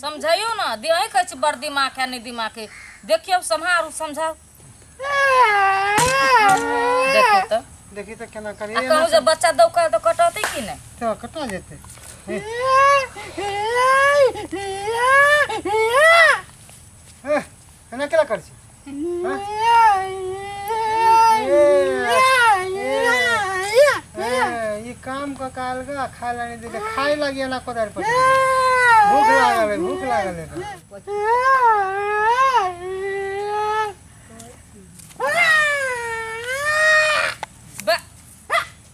समझैयौ ने दे अहीं कहै छी बड़ दिमाग है नहि दिमाग है देखियौ सम्हारू समझाउ देखियौ तऽ देखी तऽ केना करी आ कहू जे बच्चा दौका तऽ कटतै कि नहि तऽ कतऽ जेतै एह, एना केला करै छी ए, ई काम क काल गा खाय लानी दे खाय लागी एना कोदार पर भूख लागल है भूख लागल है एकरा।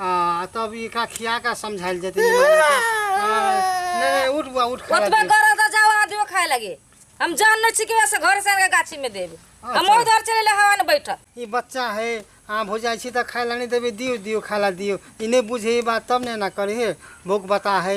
आ तब ई का खिया का समझाइल जते नहीं नहीं उठ बुआ उठ खा ओतबे कर द जाओ आदमी खाए लगे हम जान नहीं छी कि वैसे घर से आके गाछी में देब हम अच्छा। उधर चले ले हवा में बैठल ई बच्चा है आम हो जाइ छी त खाए ला नहीं देबे दियो दियो खाए ला दियो ई नहीं बुझे ई बात तब नहीं ना करे है भूख बता है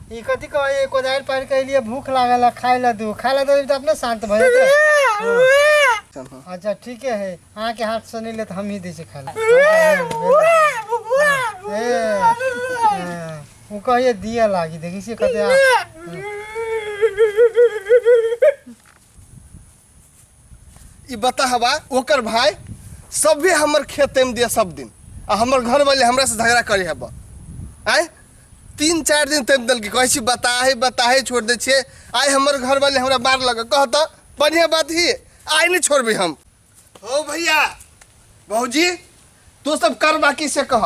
ई कथी कहै कोदारि पारि के लिए भूख लागल है खाए ला दू खाए ला दू तो अपने शांत भए जेतै अच्छा ठीक है अहाँ के हाथ से नहीं ले तो हम ही दै छी खाए ला ए, ए, ओ कहिए दिया लागी देखी छी कते आ- ई बताहबा ओकर भाई सभे हमर खेते में दिया सब दिन आ हमर घर वाले हमरा से झगड़ा करे हबा आय तीन चार दिन तक दल के कहै छी बताहे बताहे छोड़ दै छियै आइ हमर घर वाले हमरा मार लग कह तऽ बढ़िया बात ही आइ नहि छोड़बै हम हो भैया भौजी तू सब करबा की से कह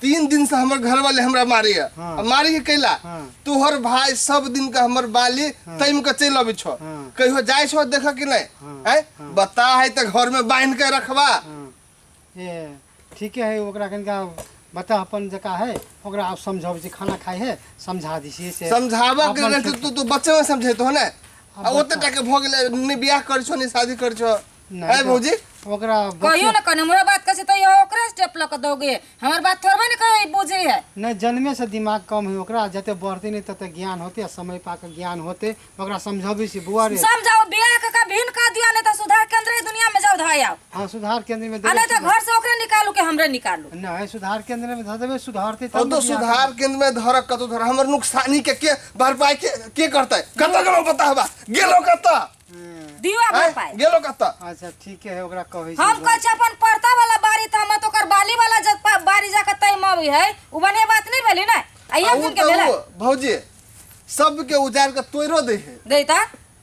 तीन दिन से हमर घर वाले हमरा मारे है हाँ। अब मारे के कैला हाँ। तोहर भाई सब दिन का हमर बाली तैम के चल अबे छो हाँ। कहियो जाय छो देख कि नहीं हाँ। है बता है तो घर में बांध के रखवा हाँ। ए ठीके है ओकरा कनिका बता अपन जका है ओकरा आप समझाबै छी खाना खाइ है समझा दी छी से समझावा के अपन रहते तू तू बच्चे में समझे तो है ना अब आ ओते बच्चा- टाके भोग ले ने बियाह कर छो ने शादी कर छो नहीं ए तो भौजी ओकरा कहियो ना कने हमरा बात कैसे तो ये ओकरा स्टेप लग दोगे हमार बात थोड़बे ना कहे बुझे है नहीं जन्मे से दिमाग कम है ओकरा जते बढ़ते नहीं तते ज्ञान होते आ समय पा के ज्ञान होते ओकरा समझबी से बुआ रे समझाओ बियाह के का भिन का दिया नहीं तो सुधार केंद्र है दुनिया में जाओ धाय आओ हाँ सुधार केंद्र में आ नहीं तो घर से ओकरा निकालू के हमरे निकालू नहीं सुधार केंद्र में धर देबे सुधारते तब अब तो ने बियाह सुधार केंद्र में धरक कतो धर हमर नुकसानी के के भरपाई के के करतै कत गेलो बता हवा गेलो कत दियो हमरा ए, पाए गेलो कत्ता अच्छा ठीक है ओकरा कहै हम छी कहै छी अपन परता वाला बारी त हम तो ओकर बाली वाला जब पा- बारी जाके तय मवी है उ बढ़िया बात नहीं भेली ना आ एक ऊ दिन के तऽ भेलै ऊ भौजी सबके उजाड़ के तोड़ो दे है दे त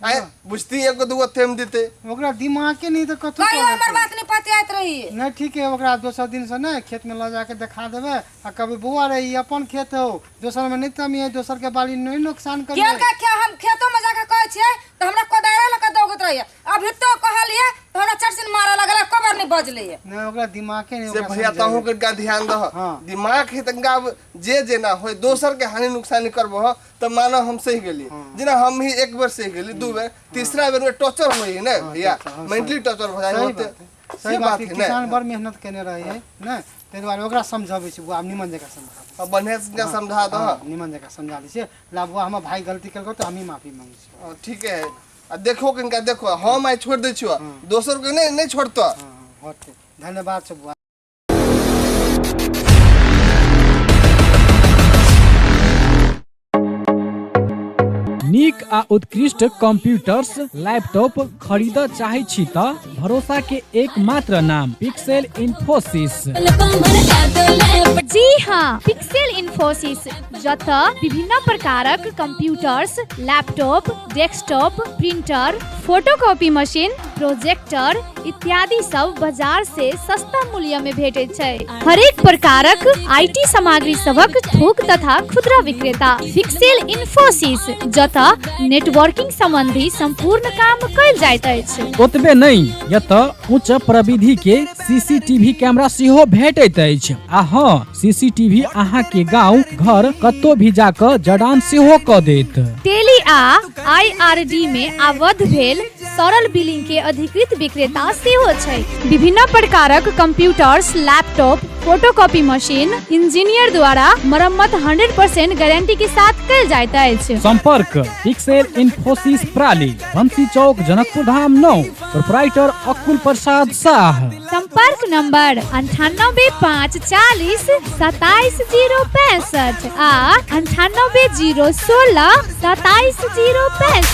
आय बुझती एगो दूगो तेम देते ओकरा दिमागे नहीं तो कथी कहियो कहै हमर छै। बात नहीं पतियात रही नहीं ठीक है ओकरा दोसर दिन से ना खेत में लऽ जाके देखा देबे आ कभी बुआ रे ई अपन खेत हो दोसर में नहीं तमिए दोसर के बाली नहीं नुकसान करिए केर का क्या हम खेतो में जाके कहै छियै तऽ हमरा कोदारे लऽ कऽ दौगैत रहैया अभी तो कहलियै तऽ हमरा चरसिन मारऽ लगल कबर नहि बजलै नहीं ओकरा दिमागे नहीं से ओकरा भैया समझे। तहूँ के का ध्यान दह हाँ। दिमाग है तनका अब जे जेना होय दोसर के हानि नुकसानी करबो हो तो मानो हम सही गेली जेना हम ही एक बेर सही गेली दू बेर तीसरा बेर में टॉर्चर होई है ना भैया torture, हाँ, मेंटली टॉर्चर हो जाए सही होते बात है। सही बात है किसान बड़ मेहनत केने रहे है ना ताहि दुआरे ओकरा समझबै छी बौआ हम निमन जकाँ समझा दै अब बढ़िया से इनका समझा छी। दो हँ, निमन जकाँ समझा दै छियै ला बौआ हमर भाय गलती केलकौ तऽ हमही माफी मांगै छी हाँ, ठीक है आ देखो कि इनका देखो हम आई छोड़ दे छो दोसर के नहीं नहीं छोड़तो हँ हँ होतै धन्यवाद छै बौआ नीक आ उत्कृष्ट कंप्यूटर्स लैपटॉप खरीद चाहे छी त भरोसा के एकमात्र नाम पिक्सेल इन्फोसिस जी हाँ पिक्सेल इन्फोसिस जत विभिन्न प्रकारक computers laptop desktop printer photocopy machine projector इत्यादि सब बाजार से सस्ता मूल्य में भेटे छै हरेक प्रकारक आईटी सामग्री सबक थोक तथा खुदरा विक्रेता फिक्सेल इन्फोसिस जतऽ नेटवर्किंग संबंधी संपूर्ण काम कयल जाइत अछि ओतबे नहि यतऽ उच्च प्रविधि के सीसीटीवी कैमरा सेहो भेटैत अछि आ हँ सीसीटीवी अहाँ के गांव घर कतौ भी जाकऽ जडान सेहो कऽ देत टेली आ आईआरडी में आबद्ध भेल तरल बिलिंग के अधिकृत विक्रेता सेहो छै विभिन्न प्रकारक computers laptop photocopy machine engineer द्वारा मरम्मत 100% गारंटी के साथ कल जाइत अछि संपर्क पिक्सेल इन्फोसिस प्राली बंसी चौक जनकपुर धाम नौ प्रोपराइटर अकुल प्रसाद शाह संपर्क नंबर अंठानबे पाँच चालीस सताइस जीरो पैंसठ आ अंठानबे जीरो सोलह सताइस जीरो पैंसठ